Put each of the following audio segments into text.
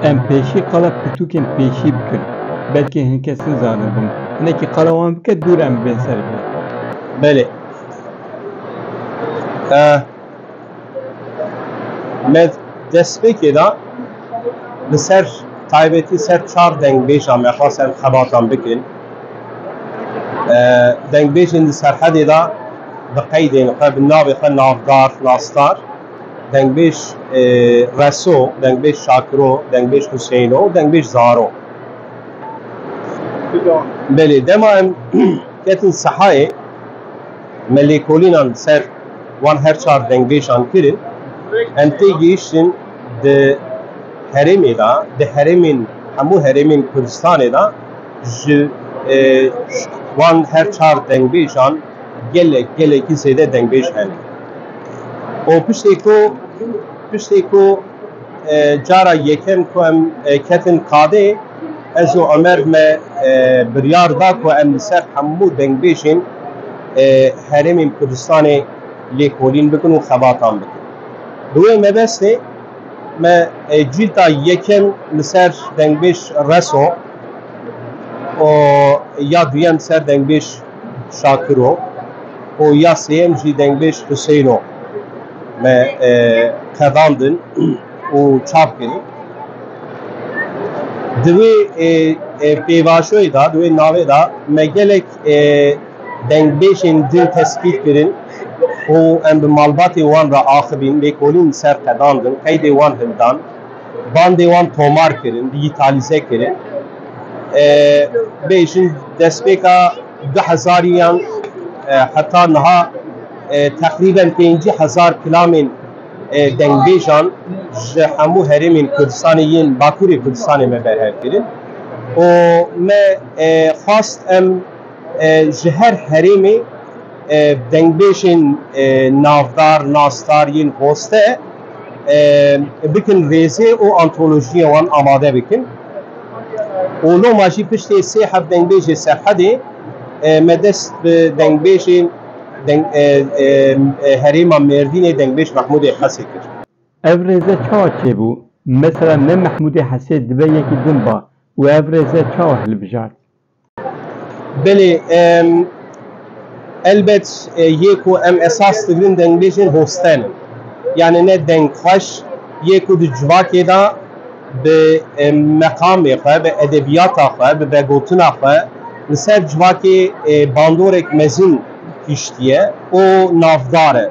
Em pêşî qala pirtûkên pêşî bikin. Belkî hin kes nizane bin. Hinekî qala wan bike dûr em bên ser vê. Belê. Ah. Me destpêkê de li ser taybetî ser çar dengbêja me xwest em xebatan bikin. Dengbêjên di serhedê de bi qeydên xwe bi navê xwe navdar, nasdar. Dengbêj Reso, dengbêj Şakiro, dengbêj Huseyno û dengbêj Zaro. Belê dema em ketin sehayê me lêkolînan ser Wan her çar dengbêj'an kirin. Em tê gihiştin di herêmê de, di herêmên hemû herêmên Kurdistanê de ji wan her çar dengbêj'an gelek gelekî zêde dengbêj hene. Û piştê ku piştê ku cara yekem ku em ketin kadê, Ez û Omer me biryar da ku em li ser hemû dengbêjên Herêmên Kurdistanê lêkolîn bikin û xebatan bikin. Bi wê mebestê me cîlda yekem li ser dengbêj Reso û ya duyem li ser dengbêj Şakiro û ya sêyem jî dengbêj Huseyno me qedandin. û çap kirî. Di wê pêvajoyê de, di wê navê de me gelek dengbêjên din tespît kirin û em bi malbatê wan re axivîn, lêkolîn ser qedandin, qeydê wan hildan, bandê wan tomar kirin, dîjîtalîze kirin. Bêjin destpêka du hezarî yan heta niha teqrîben pêncî hezar kilamên, Dengbêjan ji hemû herêmên Kurdistanê yên Bakurê Kurdistanê me berhev kirin û me xwest em ji her herêmê dengbêjên navdar, nasdar yên Goste bikin rêzê û antolojiyê wan amade bikin û loma jî piştê sê heft dengbêjê Serhedê me dest bi dengbêjên Deng herêma Mêrdînê dengbêj Mehmûdê Hesê kir. Ev rêze çawa çêbû? Mesela ne Mehmûdê Hesê dibe yekî din ba û ev rêze çawa hilbijart? Belê, elbet yê ku em esas digirin dengbêjên hosten in. Yanî ne deng xweş yê ku di civakê de, bi meqamê xwe, bi edebiyata xwe, bi vegotina xwe li ser civakê bandorek mezin hiştiye û navdar e.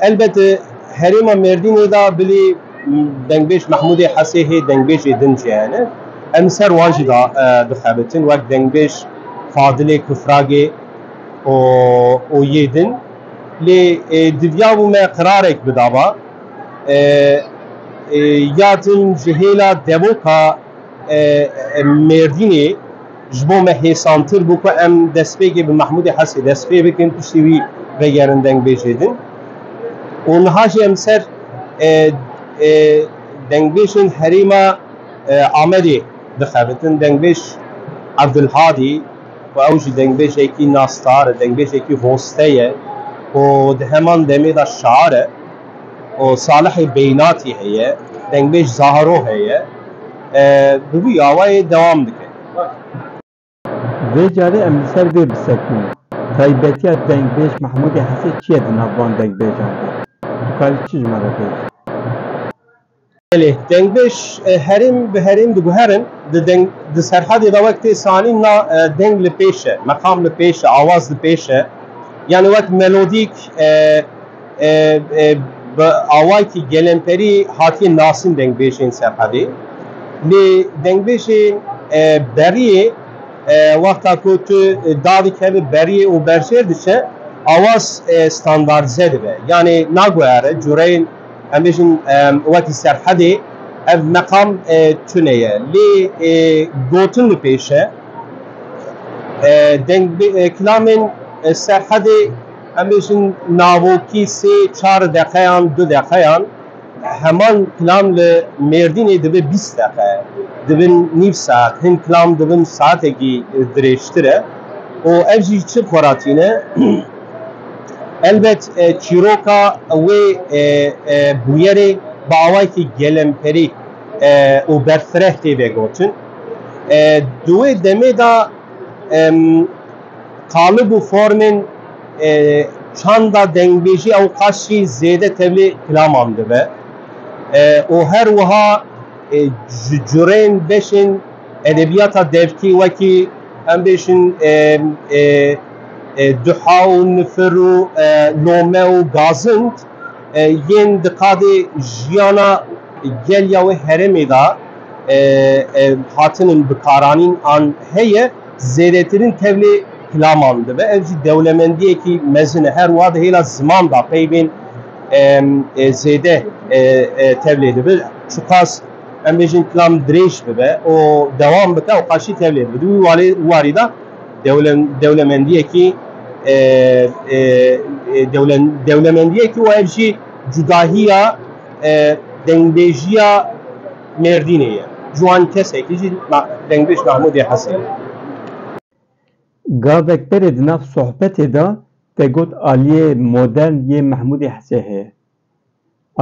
Elbet herêma Mêrdînê de bilî dengbêj Mehmûdê Hesê hê dengbêjê din jî hene. Em li ser wan jî de dixebitin wek dengbêj Fadilê Kufragê û yê din. Lê diviyabû me qirarek bidaba. ya din ji hêla devoka Mêrdînê ji bo me hêsantir bû ku em destpêkê bi Mehmûdê Hesê dest pê bikin, piştî wî vegerin dengbêjê din û niha jî em ser dengbêjên herêma Amedê dixebitin, dengbêj Evdulhadî. Ku ew jî dengbêjekî nasdar e, dengbêjekî hoste ye û di heman demê de şiar e û Salihê Beynatî heye, dengbêj Zahro heye. Bi vî awayê dewam dike. Vê carê em li ser vê bisekînin, Taybetiya dengbêj Mehmûdê Hesê çi ye di nav van dengbêjan de? Tu dikarî çi ji me re bêjî? Belê, dengbêj herêm bi herêm diguherin, di deng di Serhadê de wek tê sanîn na deng li pêş e, meqam li pêş e, awaz li pêş e. Yanî wek melodîk bi awayekî gelemperî hatiye nasîn dengbêjên Serhadê. Lê dengbêjên beriyê wexta ku tu da dikeve beriyê û berjêr diçe awaz standardize dibe. Yanî naguhere cureyên. Em bêjin wekî serhedê ev meqam tune ye. Lê gotin li pêş e. Deng kilamên serhedê em bêjin navokî sê çar deqeyan du deqeyan heman kilam li Mêrdînê dibe bîst deqe. Dibin nîv saet. Hin kilam dibin saetekî dirêjtir e. û ev jî çi xweratîne? Elbet çîroka wê bûyerê bi awayekî gelemperî û berfireh tê vegotin. Di wê demê de qalib û formên çanda dengbêjî ew qas jî zêde tevlî klaman dibe û her wiha ji curên beşên edebiyata devkî wekî em bêjin Duha û nifir û lome û gazind yên di qadê jiyana gel ya wê herêmê de hatin in bikaranîn an heye, zêdetirîn tevlê kilaman dibe. Ev jî dewlemendiyekî mezin e. Her wiha di hêla ziman de peyvên zêde tevlê dibe. Çiqas em bêjin kilam dirêj bibe û dewam bike û qas jî tevlê dibe. Di wî warî de Dewlemendiyekî Dewlemendiyekî û ev jî cudahiya dengbêjiya Mêrdînê ye. Ciwan Kesekî jî dengbêj Mahmûdê Hesên e. Gavek berê di nav sohbetê de te got aliyê modern yê Mahmûdê Hesê heye.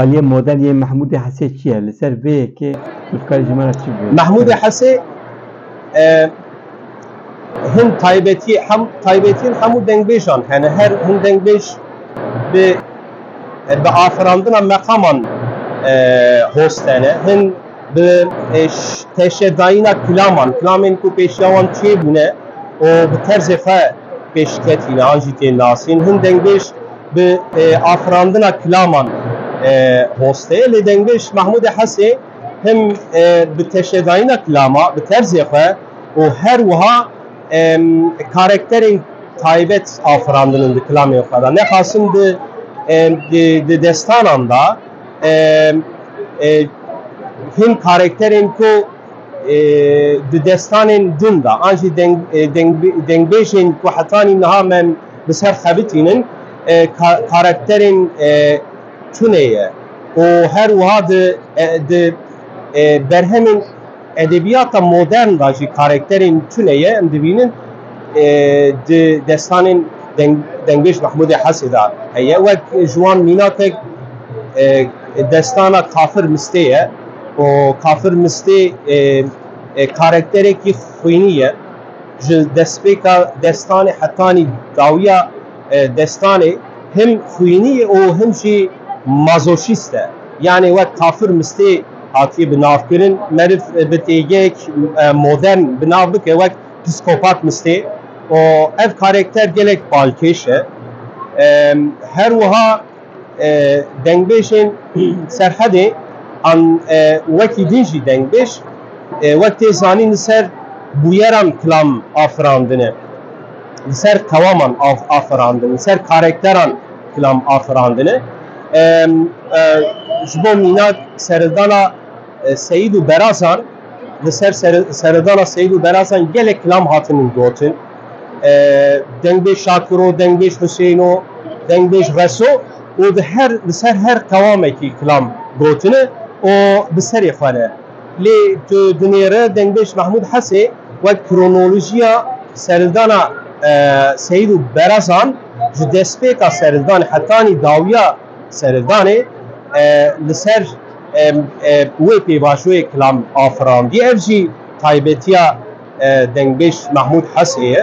Aliyê modern yê Mehmûdê Hesê çi ye? Li ser vê yekê tu dikarî ji me re çi bibêjî? Mehmûdê Hesê hin taybetiyê hem taybetiyên hemû dengbêjan hene. Her hin dengbêj bi bi afirandina meqaman host hene. Hin bi teşedayîna kilaman, kilamên ku pêşiya wan çêbûne û bi terzê xwe pêşketîne an jî tên nasîn. Hin dengbêj Bi afirandina kilaman hostê lê dengbiş Mehmûdê Hesê him bi teşedayîna kilama bi terzê xwe û her wiha karekterên taybet afirandinin di kilamên xwe de. Nexasim di destanan de hin karekterên ku di destanên din de an jî dengbêjên ku hetanî niha me Bi ser xebitînin karakterên tunê ye û her wiha di berhemên edebiyata modern de jî karakterên tunê ye. Em dibînin di destanên Dengbeş Mehmûdê Hesê de heye. Wek ji wan mînatek destana Kafir Mistê ye û Kafir Mistê karakterekî xwînî ye. Ji destpêka destanê hetanî dawiya destanê him xwînî ye û him jî mazoşîst e. Yanê wek kafir mistê hatiye bi nav kirin. Meriv bi têgeyek modern bi nav bike wek psîkopat mistê û ev karekter gelek balkêş e. Her wiha. Dengbêjên Serhedê an wekî din jî dengbêj wek tê zanîn li ser bûyeran kilam afirandine, li ser qewaman afirandin, li ser karekteran kilam afirandine. Ji bo mînak serildana. Seyîd û Berazan, Li ser seredana Seyîd û Berazan gelek kilam hatinin gotin. Dengbêj Şakiro, Dengbêj Huseyno, Dengbêj Reso û di her li ser her qewamekî kilam gotine û bi serê xwe ne. Lê tu dinêre Dengbêj Mehmûd Hesê wek kronolojiya seredana Seyîd û Berazan ji destpêka seredanê hetanî dawiya Seredanê li ser wê pêvajoyê kilam afirandiye, ev jî taybetiya dengbêj Mahmûd Hesê ye.